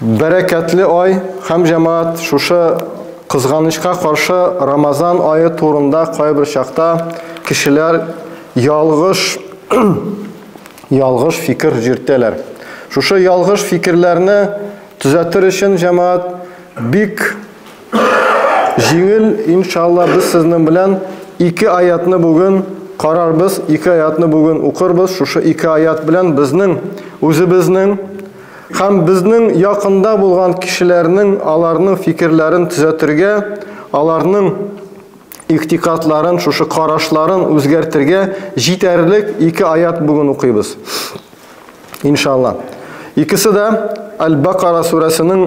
Бәрәкәтле ай һәм җәмәгать шушы кызганычка каршы Рамазан ае турында кайбер чакта кешеләр ялгыш ялгыш фикер җөртәләр. Шушы ялгыш фикерләрне төзәтер өчен җәмәгать бик Җиңел, иншалла, без сезнең белән ике аятны бүген карарбыз, ике аятны бүген укырбыз. Шушы ике аят белән безнең үзебезнең һәм безнең якында булган кешеләрнең аларның фикерләрен төзәтергә, аларның иктикатларын, шушы карашларын үзгәртергә җитәрлек ике аят бүген укыйбыз. Иншалла. Икесе дә Аль-Бакара сүрәсенең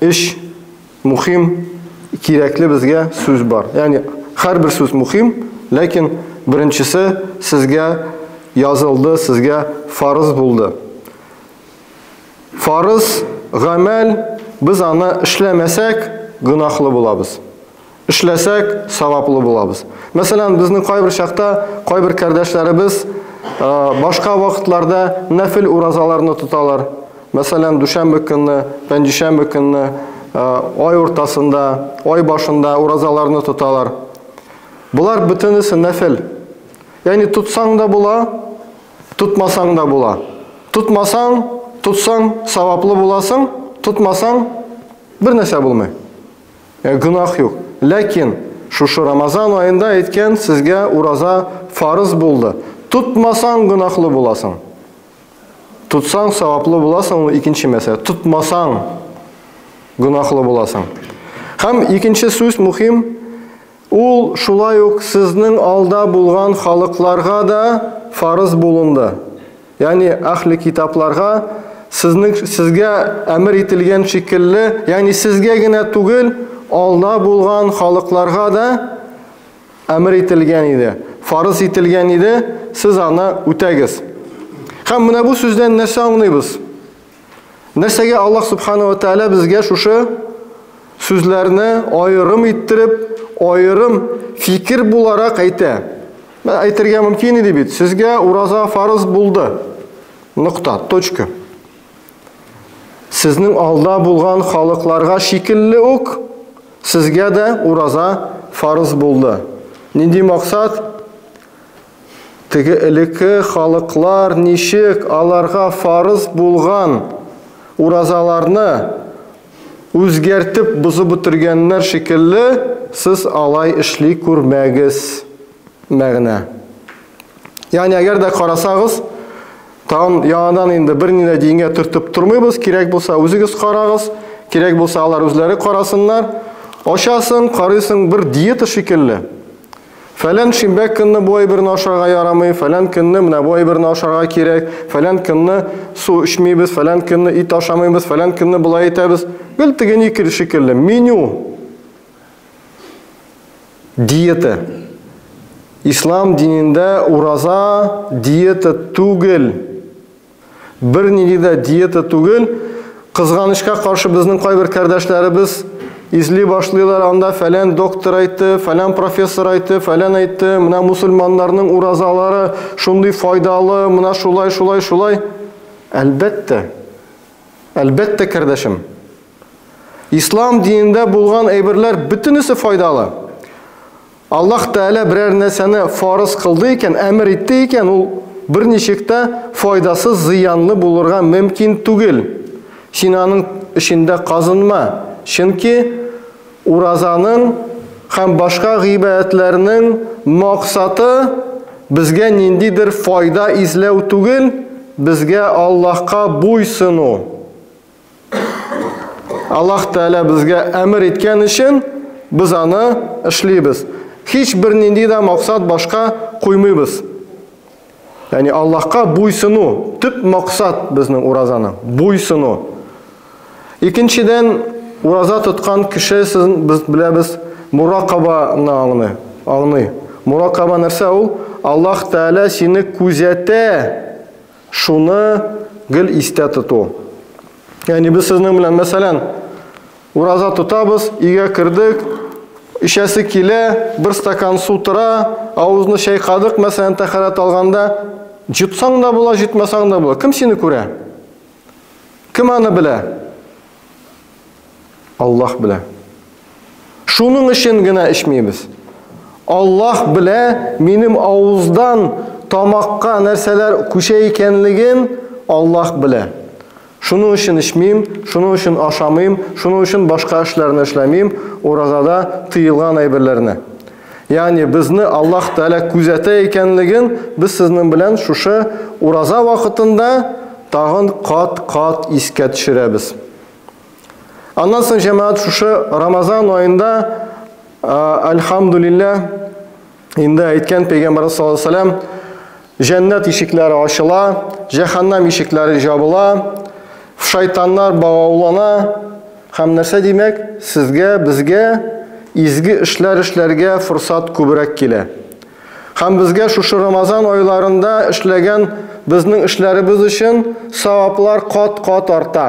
Эш мухим, кирәкле безгә сүз бар. Яни һәрбер сүз мухим, ләкин беренчесе сезгә язылды, сезгә фарыз булды. Фарыз гамәл без аны эшләмәсәк, гынахлы булабыз. Эшләсәк, саваплы булабыз. Мәсәлән, безнең кайбер чакта кайбер кардәшләребез башка вакытларда нәфил уразаларны тоталар. Мәсәлән, дүшәмбе көнне, пәнҗешәмбе көнне, ай уртасында, ай башында уразаларны тоталар. Болар бөтенесе нәфил. Ягъни тотсаң да була, тотмасаң да була. Тотмасаң, тотсаң, саваплы буласың, тотмасаң, бер нәрсә булмый. Э, гөнаһ юк. Ләкин шушы Рамазан аенда әйткән сезгә ураза фарыз булды. Тотмасаң гөнаһлы буласың. Тотсаң саваплы буласың, ул икенче мәсьәлә. Тотмасаң гөнаһлы буласың. Һәм икенче сүз мөһим, Ул шулай ук сезнең алда булган халыкларга да фарыз булынды, ягъни Әхле Китапларга, сезнең, сезгә әмер ителгән шикелле, ягъни сезгә генә түгел, алда булган халыкларга да әмер ителгән иде, фарыз ителгән иде, сез аны үтәгез. Һәм менә бу сүздән нәрсә аңлыйбыз? Нәрсәгә Аллаһ Субхану ва Тәгалә безгә шушы сүзләрне аерым иттереп, аерым фикер буларак әйтә? Мен әйтергә мөмкин иде бит, сезгә ураза фарыз булды. Нокта, точка. Сезнең алда булган халыкларга шикелле үк сезгә дә ураза фарыз булды. Нинди максат? Теге элеке халыклар ничек аларга фарыз булган уразаларны үзгәртеп бозып бетергәннәр шикелле, сез алай эшли күрмәгез. Мәгънә. Ягъни, әгәр дә карасагыз, тагын яңадан инде берни дә дингә төртеп тормыйбыз, кирәк булса үзегез карагыз, кирәк булса алар үзләре карасыннар. Ачасың, карыйсың бер диета шикелле. Фәлән шимбә көнне бу әйберне ашарга ярамый, фәлән көнне менә бу әйберне ашарга кирәк, фәлән көнне су эчмибез, фәлән көнне ит ашамыйбыз, фәлән көнне болай итәбез. Гел тегене икеле шикелле. Меню. Диета. Ислам динендә ураза диета түгел. Бернинди дә диета түгел. Кызганычка каршы безнең кайбер кардәшләребез изли башлыйлар, анда фәлән доктор әйтте, фәлән профессор әйтте, фәлән әйтте, менә мусульманнарның уразалары шундый файдалы, менә шулай, шулай, шулай. Әлбәттә. Әлбәттә, кардәшем. Ислам динендә булган әйберләр бөтенесе файдалы. Аллаһ Тәгалә берәр нәрсәне фарыз кылды икән, әмер итте икән, ул берничек тә файдасыз, зыянлы булырга мөмкин түгел. Син аның эчендә казынма, чөнки уразаның һәм башка гыйбадәтләрнең максаты безгә ниндидер файда эзләү түгел, безгә Аллаһка буй сыну, Аллаһ Тәгалә безгә әмер иткән өчен без аны эшлибез. Һич бер нинди дә максат башка куймыйбыз. Яни Аллаһка буйсыну, төп максат безнең уразаның, буйсыну. Икенчедән, ураза тоткан кеше сез без беләбез, муракабаны аңлый. Аңлый. Муракаба нәрсә ул? Аллаһ Тәгалә сине күзәтә. Шуны гел истә тоту. Ягъни без сезнең белән, мәсәлән, ураза тотабыз, өйгә кердек, эчәсе килә, бер стакан су тора, авызны чайкадык, мәсәлән, тәхәрәт алганда, җотсаң да була, җотмасаң да була. Кем сине күрә? Кем аны белә? Аллаһ белә. Шуның өчен генә эчмибез. Аллаһ белә, минем авыздан тамакка нәрсәләр күчә икәнлеген Аллаһ белә. Шуның өчен эчмим, шуның өчен ашамыйм, шуның өчен башка эшләрне эшләмим, уразада тыелган әйберләрне. Ягъни безне Аллаһ Тәгалә күзәтә икәнлеген без сезнең белән шушы ураза вакытында тагын кат-кат искә төшерәбез. Аннан соң җәмәгать шушы Рамазан аенда Альхамдулилля инде әйткән пәйгамбәрбез саллаллаху алейһи вәсәлләм җәннәт ишекләре ачыла, җәһәннәм ишекләре жабыла, шайтаннар багаулана һәм нәрсә димәк, сезгә, безгә изге эшләр эшләргә форсат күбрәк килә. Һәм безгә шушы Рамазан айларында эшләгән безнең эшләребез өчен саваплар кат-кат арта.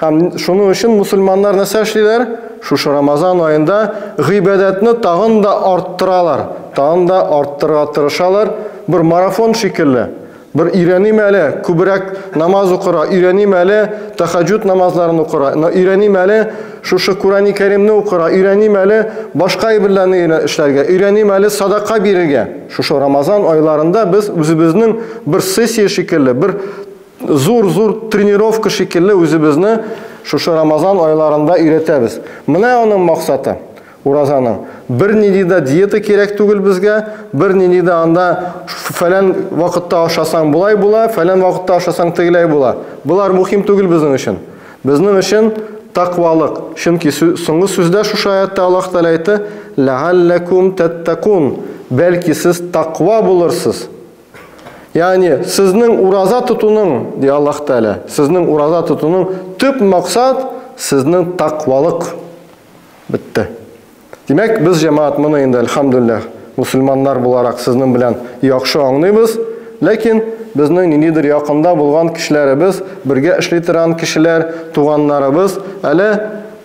Һәм шуның өчен мусульманнар нәрсә эшлиләр? Шушы Рамазан аенда гыйбадәтне тагын да арттыралар, тагын да арттырырга тырышалар, бер марафон шикелле. Бер өйрәним әле, күбрәк намаз укыра, өйрәним әле, тахаҗуд намазларын укыра, өйрәним әле, шушы Курани Кәримне укыра, өйрәним әле, башка әйберләрне эшләргә, өйрәним әле, садака бирергә. Шушы Рамазан айларында без үзебезнең бер сессия шикелле, бер зур-зур тренировка шикелле үзебезне шушы Рамазан айларында өйрәтәбез. Менә аның максаты. Уразаның. Бернинди дә диета кирәк түгел безгә, бернинди дә анда фәлән вакытта ашасаң болай була, фәлән вакытта ашасаң тегеләй була. Болар мухим түгел безнең өчен. Безнең өчен тәкъвалык. Чөнки соңгы сүздә шушы аятта Аллаһ Тәгалә әйтте, Ләгалләкум тәттәкун, бәлки сез тәкъва булырсыз. Ягъни, сезнең ураза тотуның, ди Аллаһ Тәгалә, сезнең ураза тотуның төп максат сезнең тәкъвалык. Бетте. Димәк, без җәмаат моны инде, әлхәмдүлилләһ, мусульманнар буларак сезнең белән яхшы аңлыйбыз, ләкин безнең ниндидер якында булган кешеләребез, бергә эшли торган кешеләр, туганнарыбыз әле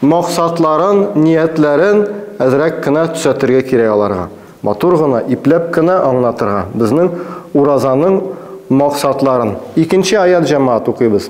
максатларын, ниятләрен әзрәк кенә төзәтергә кирәк аларга. Матур гына, ипләп кенә аңлатырга безнең уразаның максатларын. Икенче аять, җәмаат, укыйбыз.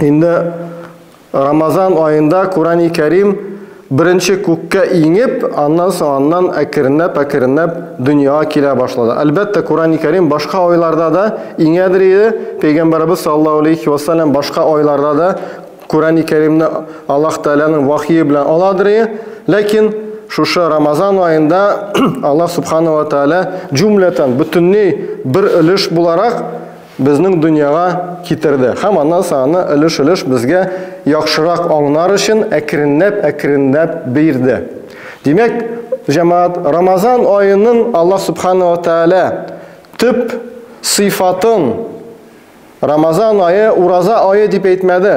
Инде Рамазан аенда Курани Кәрим беренче күккә иңеп, аннан соң аннан әкренләп, әкренләп дөньяга килә башлады. Әлбәттә, Курани Кәрим башка айларда да иңәдер иде. Пәйгамбәрбез саллаллаһу алейхи ва саллям башка айларда да Курани Кәримне Аллаһ Тәгаләнең вахие белән аладыр иде. Ләкин шушы Рамазан аенда Аллаһ Субхану ва Тәгалә җумләтән бөтенләй бер өлеш буларак безнең дөньяга китерде һәм аннан соң аны өлеш-өлеш безгә яхшырак аңнар өчен әкренләп-әкренләп бирде. Димәк, җәмәгать, Рамазан аеның Аллаһ Субхана ва Тәгалә төп сыйфатын Рамазан ае ураза ае дип әйтмәде.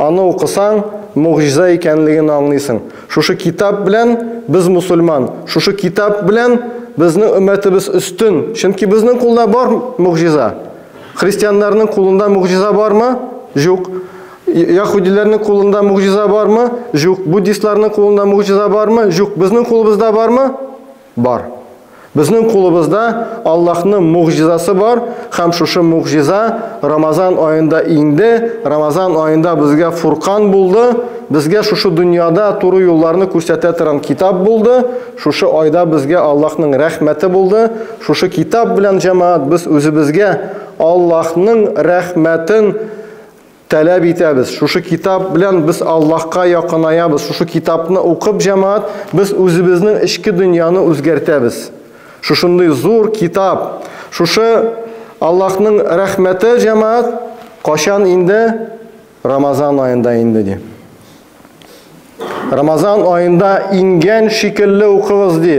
Аны укысаң, могҗиза икәнлеген аңлыйсың. Шушы китап белән без мусульман, шушы китап белән безнең өммәтебез өстен, чөнки безнең кулда бар могҗиза. Христианнарның кулында могҗиза бармы? Җук. Яһудиләрнең кулында могҗиза бармы? Җук. Буддистларның кулында могҗиза бармы? Җук. Безнең кулыбызда бармы? Бар. Безнең кулыбызда Аллаһның могҗизасы бар һәм шушы могҗиза Рамазан аенда иңде, Рамазан аенда безгә Фуркан булды, безгә шушы дөньяда туры юлларны күрсәтә торган китап булды, шушы айда безгә Аллаһның рәхмәте булды, шушы китап белән, җәмәгать, без үзебезгә Аллаһның рәхмәтен Таләп итәбез. Шушы китап белән без Аллаһка якынаябыз. Шушы китапны укып, җәмәгать, без үзебезнең эчке дөньяны үзгәртәбез. Шушындый зур китап, шушы Аллаһның рәхмәте, җәмәгать, качан инде? Рамазан аенда инде, ди. Рамазан аенда иңгән шикелле укыгыз, ди.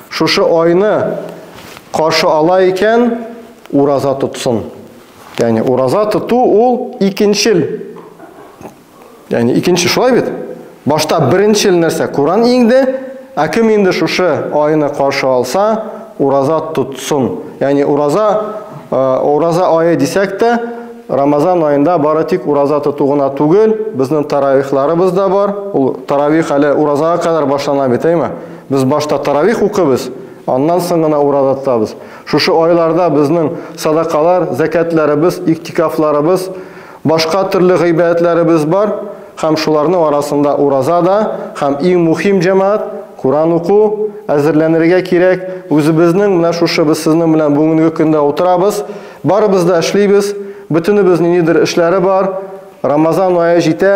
Шушы айны каршы ала икән, ураза тотсын. Яни ураза тоту ул икенчел. Яни икенче шулай бит? Башта беренчел нәрсә Куран иңде, ә кем инде шушы айны каршы алса, ураза тотсын. Яни ураза э, ураза айы дисәк тә, Рамазан айында бары тик ураза тоту гына түгел, безнең таравихларыбыз да бар. Ул таравих әле уразага кадәр башлана бит, әйме? Без башта таравих укыйбыз, аннан соң гына ураза тотабыз. Шушы айларда безнең садакалар, зәкятләребез, иктикафларыбыз, башка төрле гыйбадәтләребез бар һәм шуларның арасында ураза да һәм иң мухим җәмәгать, Куран уку, әзерләнергә кирәк. Үзебезнең менә шушы без сезнең белән бүгенге көндә утырабыз, барыбыз да эшлибез, бөтенебезнең нидер эшләре бар. Рамазан ае җитә,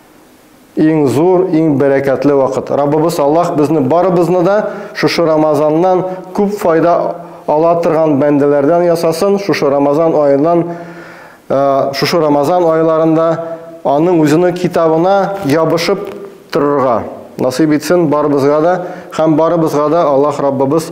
Иң зур, иң бәрәкәтле вакыт. Раббыбыз Аллаһ безне барыбызны да шушы Рамазаннан күп файда ала торган бәндәләрдән ясасын. Шушы Рамазан аеннан э, шушы Рамазан айларында аның үзенең китабына ябышып торырга насыйп итсен барыбызга да һәм барыбызга да Аллаһ Раббыбыз